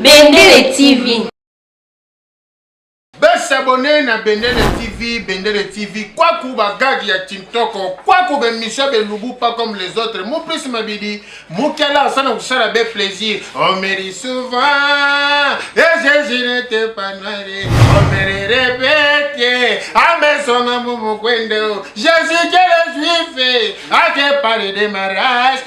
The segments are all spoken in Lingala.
Bendele TV. Besabone na Bendele TV, Bendele TV, kwaku ba gag ya Tintoko, kwaku be misha be lubu pas comme les autres. Mon plus mabidi, mukela sana kusala be plaisir. On me dit souvent, et Jésus n'était pas noir. On me le répète, à mes sons à mon Jésus que le juif, a te parlé de ma race.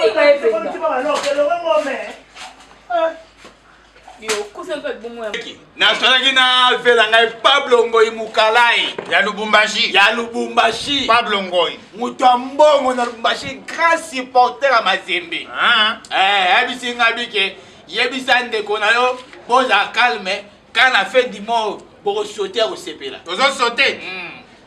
Finga ye penza. nazalaki na vela ngai pablo ngoi mukalai ya lubumbashi ya lubumbashi pablo ngoi moto ya mbongo na lubumbashi grand supporter ya mazembe ah. eh, ayebisi eh, ngai bike yebisa ndeko na yo boza calme kana fe dimor bokosote ya kosepela tozosote mm.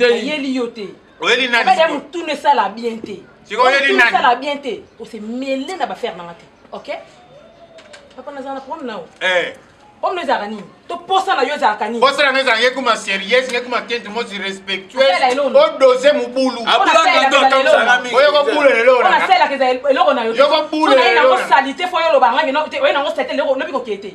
ayeli yo te oyeli nani ya mutuna esala bien te sikoyo oyeli nani esala bien te ose mele na bafere nanga te ok papa nazala na problème nao eh. problème ezalaka nini to posa na yo ezalaka nini posa nanga ezalaka ekuma sérieuse ngekuma kente mosi respectueuse odose mobulu oyokobula eloko nayoyokobulanango salite fo yo olobanga oye nango salite lobi kokee te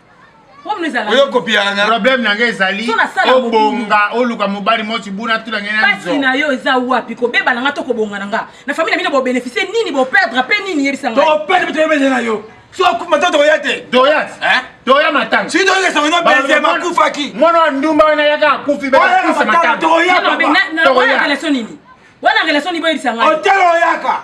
oyo kopiyanga problème na ngai ezali obonga oluka mobali moko tibuna tuna ngai na nzo na yo eza wapi kobeba na ngai to kobonga na ngai na famille na bino bobénéficie nini boperdre mpe nini yebisa ngai toperdre mpe toyebele na yo so akufa to toya te doyat toya matanga si toyeke sango no benzema akufaki mwana wa ndumba wana yaka akufi bekufa matanga toya relation nini wana relation nini boyebisa ngai otelo oyaka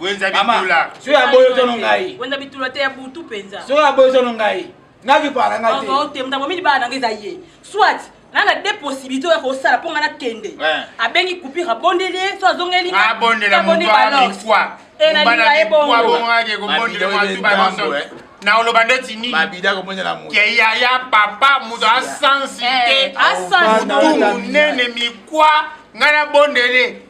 wenza bitula soki aboyi otono ngai wenza bitula te ya butu mpenza soki aboyi otono ngai nakipala nga te oh, te motambo mini bana nanga eza ye soit na na de possibilité oyo akosala mpo nga nakende abengi coupure abondeli ye so azongeli abondeli baloi enalinga ye bongo na oloba ndeti nini ke yaya papa moto asansi te motu monene mikwa ngai nabondele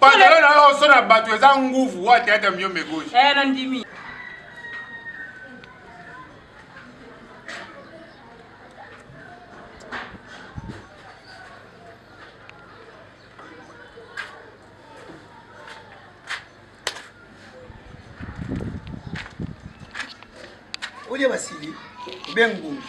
Pantalon na yo oso na bato eza nguvu wa teyata miyo megoji. Eh, na ndimi. olie basili obe ngungi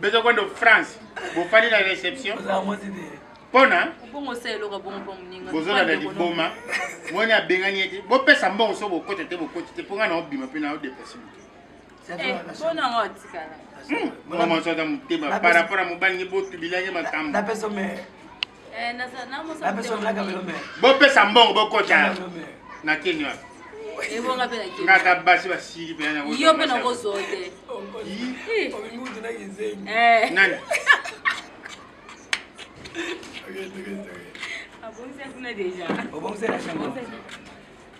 bezo kwenda france bofandi na reception mpona bozolanda liboma moni abengani ye te bopesa mbongo so bokota te bokoti te mpo ngai naobima mpe naodeplase moke mama ozata motema par rapport ya mobali nge botubilange makambo bopesa mbongo bokota na kini wapi ngaka basi basili mpenayo mpe nakozwa te nani obongisaki na deja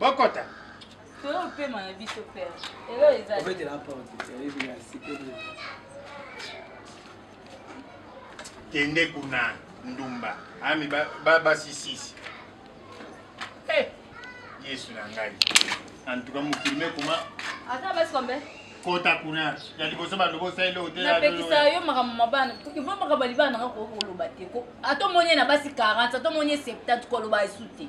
bokota topema na biso pere elo ezabetela porte eyebi na site kende kuna ndumba ami basisisi ba, eh, yesu na ngai antuka mokili mekoma ata basi kombe kota kuna ya liboso bato bosaleli otelapekisa yo makambo mabana ivo makambo ya libala nanga koki koloba te ata omoni ye na basi 40 ata omoni ye 70 koloba esu te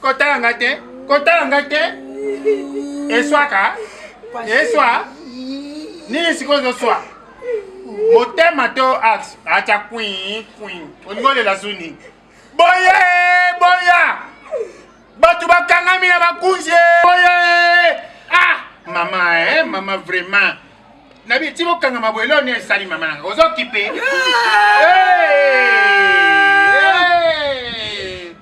kotala nga te kotala nga te eswaka eswa nini sikoyo ozoswa motema to axe atya kwin kwin olingi olela zu nini boye boya bato bakangami na bakunzi boye ah mama eh, mama vraiment nabi ti bokangama boye leo nini esali mama nanga ozokipe hey!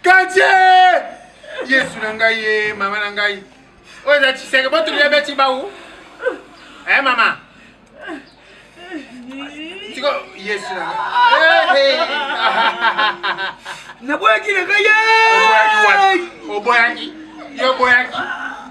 Katie! Yesu na ngai ye, eh, mama na ngai. Oyo eza Tshiseke, botuli ya beti bau. Eh mama. Tiko Yesu na ngai. Eh, Naboyaki na ngai. Oboyaki wapi? Oboyaki. Yo boyaki.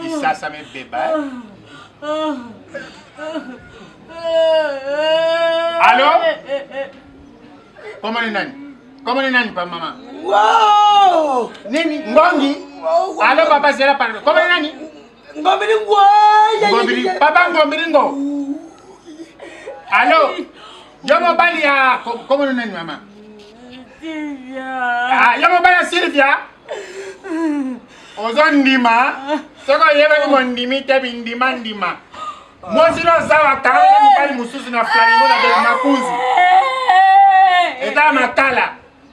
Kisasa mebeba. Allô Comment ni nani? Comment ni nani pa mama? Wow! Nini? Ngongi? Allô papa zela pardon. Comment ni nani? Ngombili ngwa. Ngombili papa ngombili ngo. Allô Yo mobali ya kombo nani mama? Sylvia. Ah, yo mobali ya Sylvia? Ozo ndima soko oyebaki mondimi te bindima ndima. Mwasi na zawa kanga mobali mosusu na flamingo na beki makunzi. Eta makala.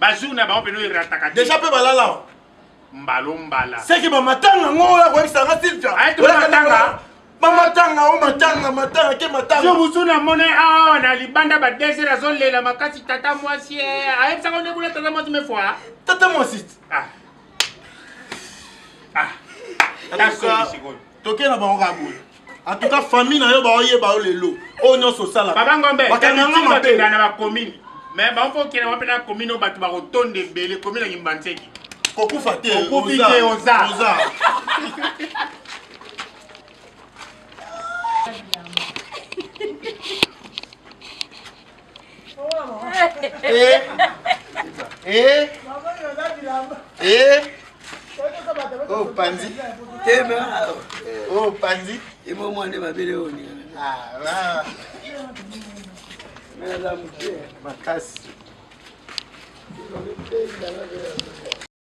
ba jour na bango peno erataka te deja pe balala wa mbalo mbala seki ba matanga ngo ya ko ekisa nga silvia ay to matanga ba matanga o matanga matanga ke matanga yo busu na mona awa na libanda ba desert azo lela makasi tata mwasi ay psa ko nekula tata mwasi me fois tata mwasi ah ah tata mwasi toke na bango kaka boye en tout cas famille na yo baoyeba yo lelo oyo nyonso osala baba ngombe bakanganga mabe na bakomini me bango okenda wape na komini oyo bato bakotonda ebele komi na kimbanseki kokufa te okufi te oza Eh, eh, eh. Oh, panzi. Oh, panzi. Imo mwande mabele oni. Ah, ah. Makasi.